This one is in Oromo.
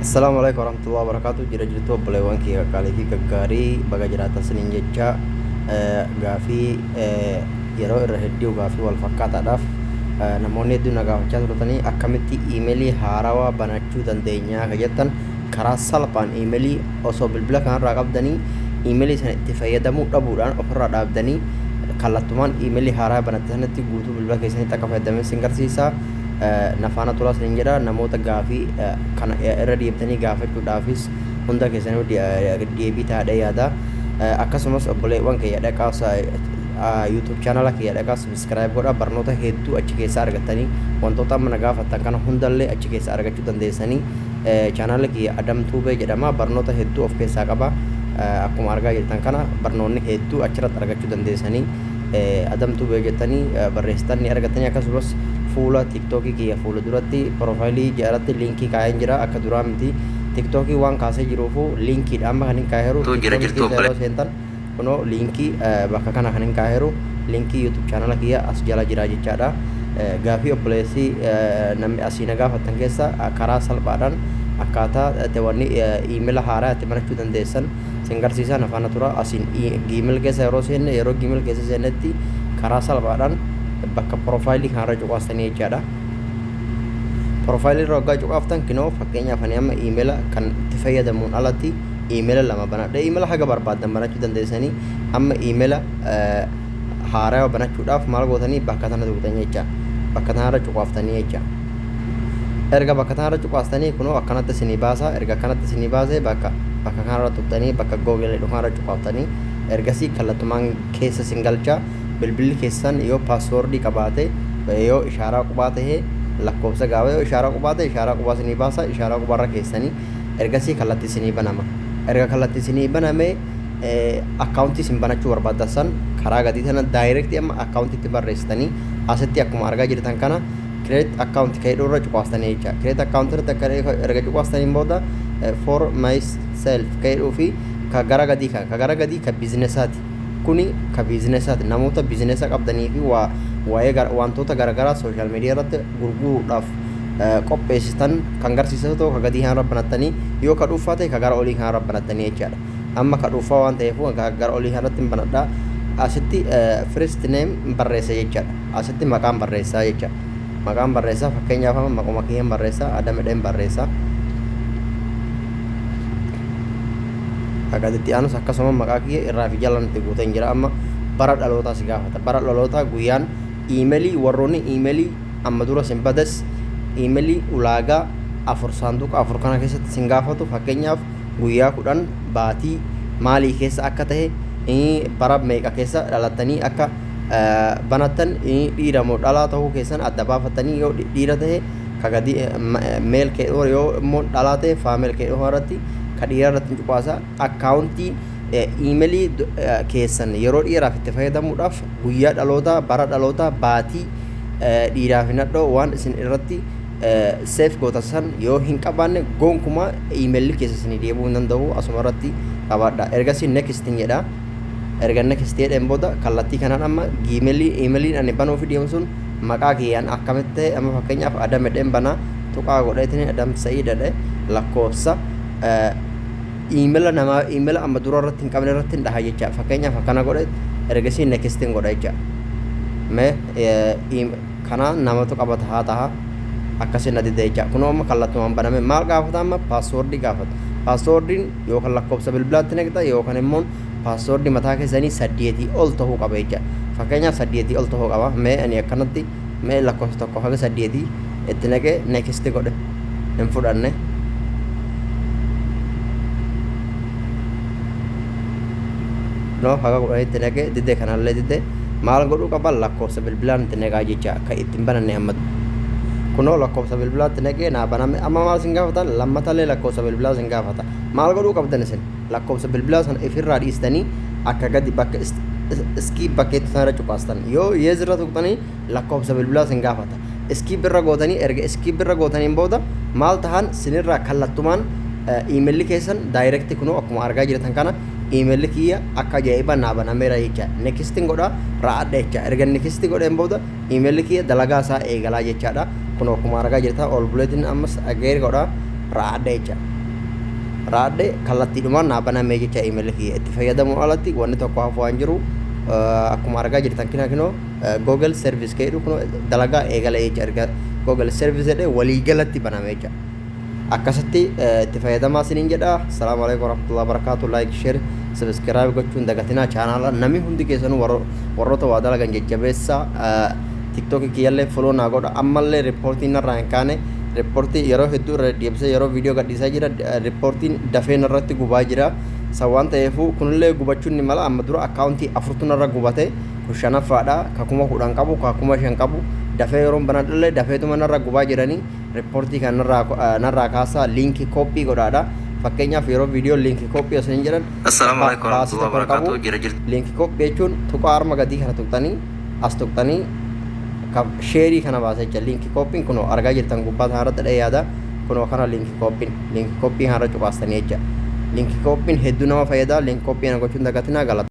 Assalaamu alaikum warahmatullahi wabarakatuh jira jirtu obboleewwan kee qaqqaalii fi gaggaarii baga jiraatan siniin jecha eh, gaafii eh, yeroo irra hedduu gaafii wal fakkaataadhaaf eh, namoonni hedduu na gaafachaa turtanii akkamitti iimeelii haarawaa banachuu dandeenyaa ka jettan karaa salphaan iimeelii osoo bilbila kanarraa qabdanii iimeelii sana itti fayyadamuu dhabuudhaan ofirraa dhaabdanii kallattumaan iimeelii haaraa banatte sanatti guutuu bilbila keessanitti akka fayyadaman sin garsiisa na faana turaa isiniin jedha. Namoota gaafii kana irra deebitanii gaafachuudhaafis hunda keessanuu deebii taadhee yaada. Akkasumas obboleewwan kiyya dhaqaa YouTube chaanala kiyya dhaqaa subscribe godhaa barnoota hedduu achi keessaa argattanii wantoota amma na gaafattan kana hundallee achi keessaa argachuu dandeessanii chaanala kiyya Adam Tuubee jedhama barnoota hedduu of keessaa qaba. Akkuma argaa jirtan kana barnoonni hedduu achirratti argachuu dandeessanii. Adam Tube jettanii barreessitan ni argattanii akkasumas fuula tiktookii kiyya fuula duratti piroofaayilii ja'aratti liinkii kaa'een jira akka duraa miti tiktookii waan kaasee jiruufu liinkiidha amma kan hin kaaheeru Too jira tiktookii jirtuu keessa yeroo obboleessa. seentan kunoo liinkii eh, bakka kana kan hin kaaheeru liinkii yuutuub chaanala kiyya as jala jira jechaadha Eh, gaafii obboleessi eh, namni asii na gaafattan keessa eh, karaa salphaadhaan akkaataa eh, teewwanni eh, iimela haaraa itti banachuu dandeessan Isin garsiisaa na faana tura. Asiin Gmail keessa yeroo seenne yeroo Gmail keessa seennetti karaa salphaadhaan bakka piroofaayilii kanarra cuqaastanii jechaadha. Piroofaayilii irra waggaa cuqaaftan kinoo fakkeenyaaf ani amma iimeela kan itti fayyadamuun alatti iimeela lama banadhe iimeela haga barbaaddan banachuu dandeessanii amma iimeela haarawa banachuudhaaf maal gootanii bakka tana tuqxan jecha bakka tanarra cuqaaftanii jecha. erga bakka tanarra cuqaastanii kunoo akkanatti isinii baasa erga akkanatti isinii baase bakka bakka kanarra tuqxanii bakka google jedhu kanarra cuqaaftanii ergasii kallattumaan keessa isin galcha bilbilli keessan yoo paaswoordii qabaate yoo ishaaraa qubaa ta'e lakkoofsa gaafa yoo ishaaraa qubaa ta'e ishaaraa qubaa isinii baasa ishaaraa qubaarra keessanii ergasii kallattii isinii banama erga kallattii isinii baname akkaawuntii isin banachuu barbaaddan san karaa gadii sana daayirektii amma akkaawuntiitti barreessitanii asitti akkuma argaa jirtan kana create account ka jedhu irra cuqaastanii jecha create account irratti akka erga cuqaastaniin booda for myself ka jedhuu fi ka gara gadii kan ka gara gadii ka bizinesaati kuni ka bizinesaati namoota bizinesa qabdanii fi waa waa'ee wantoota garaagaraa sooshaal miidiyaa irratti gurguruudhaaf qopheessitan kan garsiisaa ta'u ka gadii kanarra banattanii yoo ka dhuunfaa ta'e ka gara olii kanarra banattanii jechaadha amma ka dhuunfaa waan ta'eef gara olii kanarratti banadhaa asitti first name barreessa jechaadha Asitti maqaan barreessaa jecha maqaan barreessaa fakkeenyaaf amma maquma kiyyeen barreessaa adamedheen barreessaa akkasitti aanus akkasuma maqaa kiyya irraa fi jala nutti guuteen jira amma bara dhalootaa si gaafata bara dhalootaa guyyaan iimelii warroonni iimelii amma dura sin bades iimelii ulaagaa afur saanduqa afur kana keessatti sin gaafatu fakkeenyaaf guyyaa kudhan baatii maalii keessa akka ta'e bara meeqa keessa dhalattanii akka banattan dhiira moo dhalaa ta'uu keessan adda baafattanii yoo dhiira ta'e ka gadi meel kee dhoo yoo immoo dhalaa ta'e faameel kee dhoo irratti ka dhiira irratti cuqaasa akkaawuntii iimelii keessan yeroo dhiiraaf itti fayyadamuudhaaf guyyaa dhalootaa bara dhalootaa baatii dhiiraaf hin hadhoo waan isin irratti seef gootan san yoo hin qabaanne gonkumaa iimelli keessa isinii deebi'uu hin danda'u asuma irratti qabaadha ergasii next hin jedha Erga next jedheen booda kallattii kanaan amma gmail emailiin ani banuufi deemu sun maqaa kiyyaan akkamitti ta'e amma fakkeenyaaf adam jedheen banaa tuqaa godheetiin adam sa'ii jedhe lakkoofsa emaila namaa emaila amma dura irratti hin qabne irratti hin dhaha jecha fakkeenyaaf akkana godhe ergasii next hin godha jecha mee kanaa namatu qabata haa taha akkasii na dida jecha kunoo amma kallattumaan baname maal gaafata amma paaswoordii gaafata paaswoordiin yookaan lakkoofsa bilbilaatti naqxa yookaan immoo paaswoordi mataa keessanii saddeetii ol ta'uu qaba jecha fakkeenyaaf saddeetii ol ta'uu qaba mee ani akkanatti mee lakkoofsa tokko haga saddeetii itti naqee neekisti godhe hin fudhanne no haga kudhanitti naqe dide kanallee dide maal godhuu qaba lakkoofsa bilbilaa natti naqaa jecha kan ittiin bananne amma kunoo lakkoofsa bilbilaatti naqee naa baname amma maal isin gaafata lammatallee lakkoofsa bilbilaa isin gaafata maal godhuu qabdan isin lakkoofsa bilbilaa sana ifirraa dhiistanii akka gadi bakka iskii bakkeetti sanarra cuqaastan yoo yeezirra tuqxanii lakkoofsa bilbilaa isin gaafata iskii birra gootanii erga iskii birra gootaniin booda maal tahan sinirraa kallattumaan iimeelli keessan daayirekti kunoo akkuma argaa jirtan kana email kiyya akka ajaa'iba naa banameera jecha nekistin godha ra'adha jecha erga nekisti godheen booda email kiyya dalagaa isaa eegalaa jechaadha kun akkuma argaa jirta ol buleetiin ammas ageer godha ra'adha jecha ra'adhe kallattiidhumaan naa banamee jecha email kiyya itti fayyadamuun alatti wanni tokko hafu waan jiru akkuma argaa jirtan kina kinoo google service keedhu kun dalagaa eegala jecha erga google service jedhee walii galatti baname jecha Akkasitti itti fayyadamaa isiniin jedha. Salaamu alaikum warahmatullahi wabarakatuh. Like, share, subscribe gochuun dagatinaa chaanaala. Namni hundi keessanuu warro- warroota waa dalagan jajjabeessa. Tiktookii kiyyallee follow naa godha. Ammallee riippoortiin narraa hin kaane. Riippoortii yeroo hedduu irra deddeebisee yeroo viidiyoo gadhiisaa jira. D- Riippoortiin dafee narratti gubaa jira. San waan ta'eefuu kunillee gubachuun ni mala. Amma dura akkaawuntii afurtu narra gubate. Kun shanaffaadha. Ka kuma kudhan qabu, ka kuma shan qabu. Dafee yeroon banadhullee dafeetuma narra gubaa jiranii. Reportii kan narraa narraa kaasaa link copy godhaadha. Fakkeenyaaf yeroo viidiyoo link copy osoo hin jedhan Assalaamu alaikum baasii warahmatullahi tokko hin qabu. wabarakatuh. Jira jirti. Link copy jechuun tuqaa arma gadii kana tuqxanii as tuqxanii ka- sheerii kana baasa jecha link copy'n kunoo argaa jirtan gubbaa sana irratti dha'ee yaada kunoo kana link copy'n link copy kana irra cuqaastanii jecha link copy'n hedduu nama fayyada link copy kana gochuun dagatinaa galata.